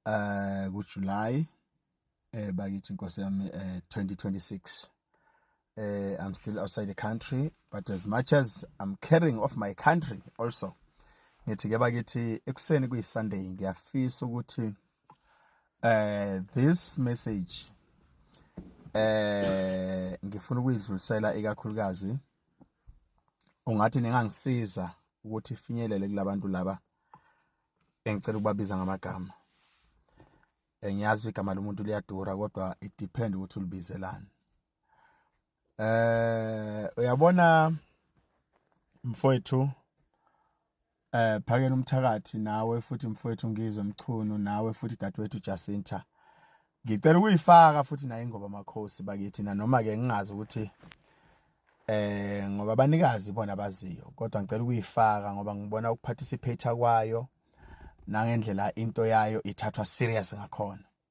eh kuJuly eh bakithi inkosi yami eh 2026 eh I'm still outside the country but as much as I'm caring of my country also ngithi ke bakithi ekuseni kuyiSunday ngiyafisa ukuthi Uh, this message eh ngifuna ukuyidlulisela ikakhulukazi ungathi ningangisiza ukuthi ifinyelele kulabantu laba engicela ukubabiza ngamagama eh, ngiyazi igama lomuntu liyadura kodwa it depend ukuthi ulibizelani eh uyabona mfowethu eh phakela umthakathi nawe futhi mfowethu ngizwe mchunu nawe futhi dadewethu Jacinta ngicela ukuyifaka futhi naye ngoba makhosi bakithi na noma ke ngingazi ukuthi eh ngoba abanikazi bona baziyo kodwa ngicela ukuyifaka ngoba ngibona ukuparticipate kwayo nangendlela into yayo ithathwa serious ngakhona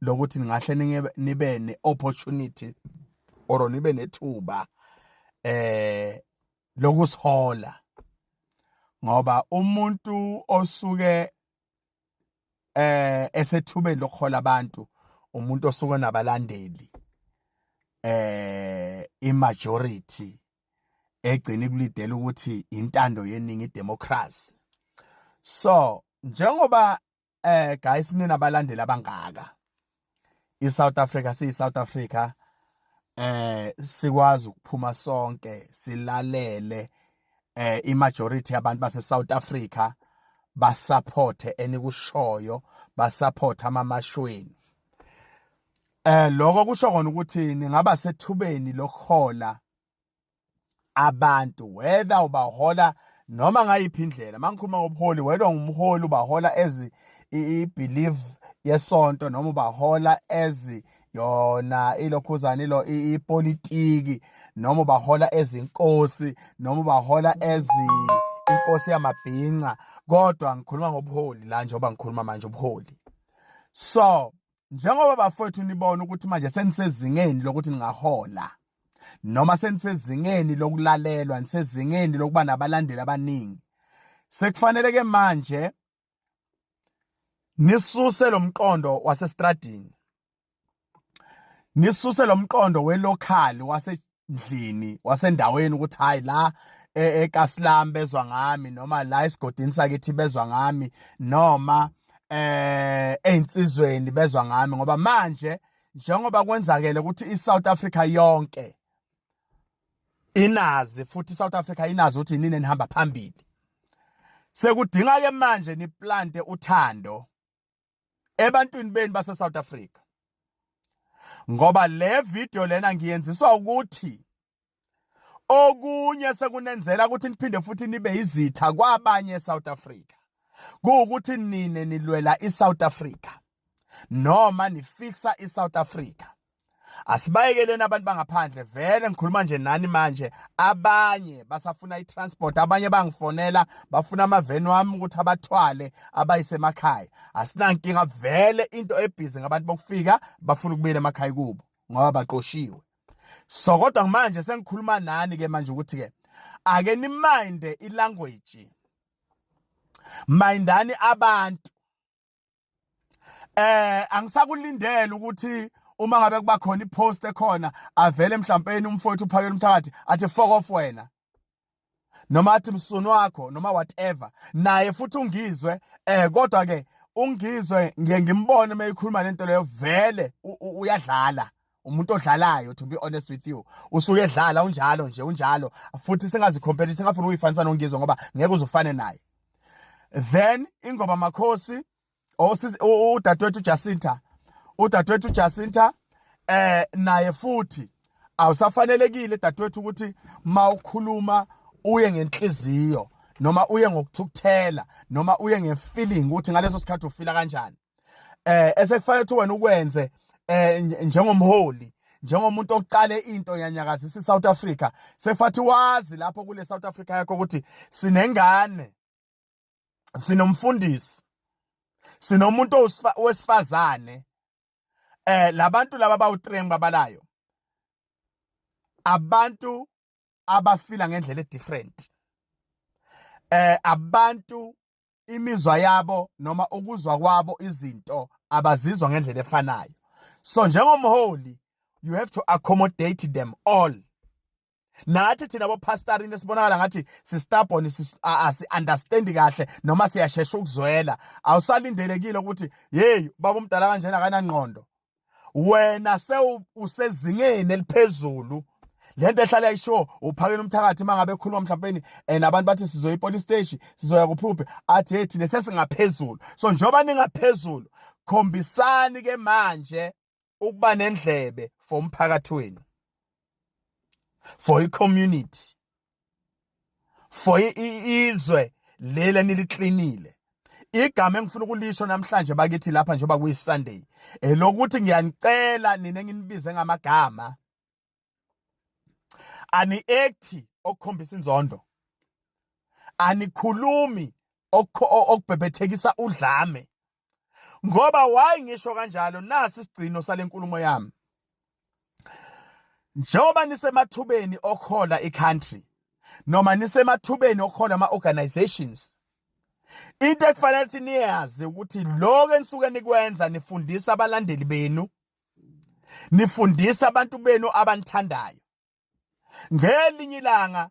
lokuthi ningahle nibe ne opportunity or nibe nethuba eh lokusihola ngoba umuntu osuke eh esethubeni lokuhola abantu umuntu osuke nabalandeli eh imajority egcina ikulidela ukuthi intando yeningi democracy so njengoba eh guys nina balandeli abangaka i South Africa siyi South Africa eh sikwazi ukuphuma sonke silalele eh i majority yabantu base South Africa basupporte enikushoyo basupporte amamashweni eh lokho kusho kona ukuthi ningaba sethubeni lokuhola abantu whether ubahola noma ngayiphi indlela mangikhuluma ngobuholi whether ungumholi ubahola as i-belief yesonto noma ubahola as yona ilokhuzana ilo ipolitiki noma ubahola ezinkosi noma ubahola ezi inkosi yamabhinca kodwa ngikhuluma ngobuholi la njengoba ngikhuluma manje ubuholi so njengoba bafowethu nibona ukuthi manje senisezingeni lokuthi ningahola noma senisezingeni lokulalelwa nisezingeni lokuba nabalandeli abaningi sekufanele ke manje nisuse lomqondo wasestradini nisuse lomqondo welocal wase endlini wasendaweni ukuthi hayi la e-, eKasilam bezwa ngami noma la esigodini sakithi bezwa ngami noma eh einsizweni bezwa ngami ngoba manje njengoba kwenzakele ukuthi iSouth Africa yonke inazi futhi iSouth Africa inazi ukuthi nini enihamba phambili sekudinga ke manje niplante uthando ebantwini beni base South Africa ngoba le video lena ngiyenziswa ukuthi okunye sekunenzela ukuthi niphinde futhi nibe izitha kwabanye eSouth Africa kuwukuthi nine nilwela iSouth Africa noma nifixa iSouth Africa asibayekeleni abantu bangaphandle vele ngikhuluma nje nani manje abanye basafuna i-transport abanye bangifonela bafuna amaveni wami ukuthi abathwale abayisemakhaya asinankinga vele into ebhizi ngabantu bokufika bafuna ukubuyela emakhaya kubo ngoba baqoshiwe so kodwa manje sengikhuluma nani ke manje ukuthi ke ake niminde ilanguage mindani abantu eh angisakulindele ukuthi uma ngabe kuba khona ipost ekhona avele mhlawumbe umfowethu uphakela umthakathi athi fuck off wena noma athi msunu wakho noma whatever naye futhi ungizwe eh kodwa ke ungizwe ngiye ngimbone uma ekhuluma lento leyo vele uyadlala umuntu odlalayo to be honest with you usuke edlala unjalo nje unjalo futhi singazicompare singafuni uyifanisa nongizwe ngoba ngeke uzufane naye then ingoba makhosi udadewethu Jacinta udadewethu Jacinta eh naye futhi awusafanelekile dadewethu ukuthi mawukhuluma uye ngenhliziyo noma uye ngokuthukuthela noma uye ngefeeling ukuthi ngaleso sikhathi ufila kanjani eh esekufanele ukuthi wena ukwenze eh njengomholi njengomuntu oqale into yanyakazisa iSouth Africa sefathi wazi lapho kule South Africa yakho ukuthi sinengane sinomfundisi sinomuntu wesifazane eh labantu laba bawu3 babalayo abantu abafila ngendlela edifferent eh abantu imizwa yabo noma ukuzwa kwabo izinto abazizwa ngendlela efanayo so njengomholi you have to accommodate them all nathi thina bopastorini esibonakala ngathi sistubborn asi-understandi kahle noma siyashesha ukuzwela awusalindelekile ukuthi yeyi baba umdala kanjena akanangqondo wena sewusezingeni eliphezulu lento ehlala isho uphakela umthakathi mangabe ekhuluma mhlawumbe and abantu bathi sizoya ipolice station sizoya kuphuphe athi hey thina sesingaphezulu so njengoba ningaphezulu khombisani ke manje ukuba nendlebe for umphakathi wenu for i community for izwe leli eniliklinile igama engifuna ukulisho namhlanje bakithi lapha njengoba kuyisunday elokuthi ngiyanicela nina enginibize ngamagama ani ekthi okukhombisa inzondo anikhulumi okubhebhethekisa udlame ngoba why ngisho kanjalo nasi isigcino salenkulumo yami njengoba nisemathubeni okhola icountry noma nisemathubeni okhola ama organizations into ekufanele ukuthi niyazi ukuthi lokho enisuke nikwenza nifundisa abalandeli benu nifundisa abantu benu abanithandayo ngelinye ilanga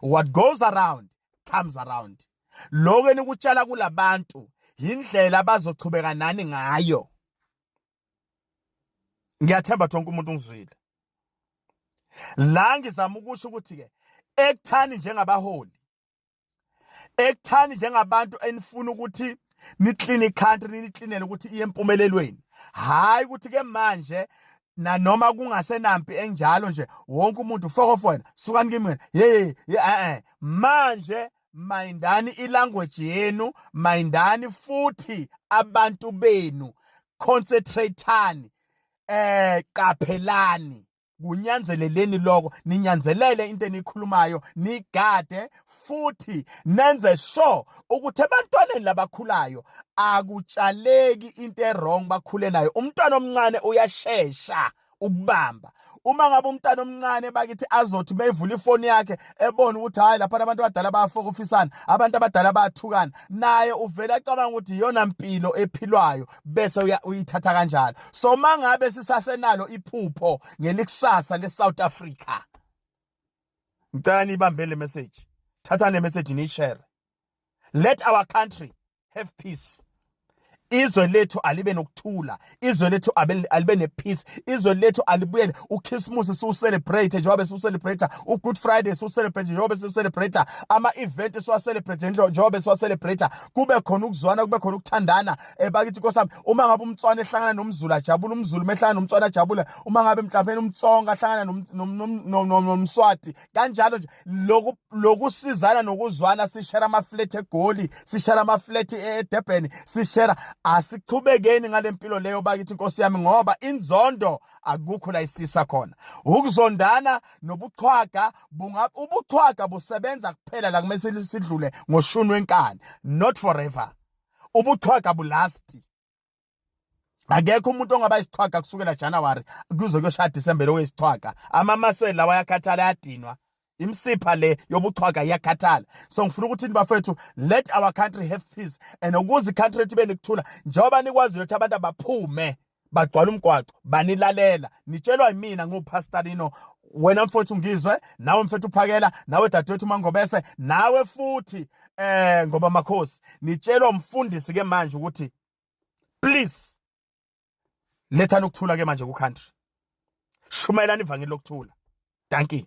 what goes around comes around lokho enikutshala kulabantu yindlela abazochubeka nani ngayo ngiyathemba tonke umuntu ungizwile la ngizama ukusho ukuthi ke ekuthani njengabaholi ekuthani njengabantu enifuna ukuthi niclean icountry nilicleanele ukuthi iye empumelelweni hayi ukuthi ke manje nanoma kungasenampi enjalo nje wonke umuntu fokofo wena sukani kimi wena hey eh manje mayindani ilanguage yenu mayindani futhi abantu benu concentrateani eh qaphelani kunyanzeleleni lokho ninyanzelele into enikhulumayo nigade futhi nenze sure ukuthi ebantwaneni labakhulayo akutshaleki into erong bakhule nayo umntwana omncane uyashesha ukubamba uma ngabe umntana omncane bakithi azothi beyivula ifoni yakhe ebona ukuthi hayi lapha abantu abadala bayafokofisana abantu abadala bayathukana naye uvele acabanga ukuthi iyona mpilo ephilwayo bese uyithatha kanjalo so mangabe sisasenalo iphupho ngelikusasa leSouth Africa ngicela nibambe le message thatha le message ni share let our country have peace izwe lethu alibe nokuthula izwe lethu alibe nepeace izwe lethu alibuyele ukhisimusi siwucelebrate njengoba siwucelebrate ugood friday siwucelebrate njengoba siwucelebrate ama-event siwacelebrate njengoba siwacelebrate kube khona ukuzwana kube khona ukuthandana eh, bakithi nkosami uma ngabe umtswana ehlangana nomzulu ajabule umzulu mehlangana nomtswana ajabule uma ngabe mhlawumbe umtsonga ahlangana nomswati kanjalo nje loku lokusizana nokuzwana sishera ama flat egoli sishera ama flat eDurban sishera asichubekeni ngalempilo leyo bakithi inkosi yami ngoba inzondo akukho la isisa khona ukuzondana nobuchwaga bunga ubuchwaga busebenza kuphela la kumele sidlule ngoshuni wenkani not forever ubuchwaga bulasti akekho umuntu ongaba isichwaga kusukela January kuze kuyoshaya December lo wesichwaga amamaseli lawa yakhathala yadinwa imsipha le yobuchwaga iyakhathala so ngifuna ukuthi nibafethu let our country have peace and ukuze country ibe nikuthula njengoba nikwazi ukuthi abantu abaphume bagcwala umgwaco banilalela nitshelwa yimina ngupastorino wena mfowethu ungizwe nawe mfethu uphakela nawe dadewethu mangobese nawe futhi eh ngoba makhosi nitshelwa umfundisi ke manje ukuthi please lethani ukuthula ke manje ku country shumayelani ivangeli lokuthula thank you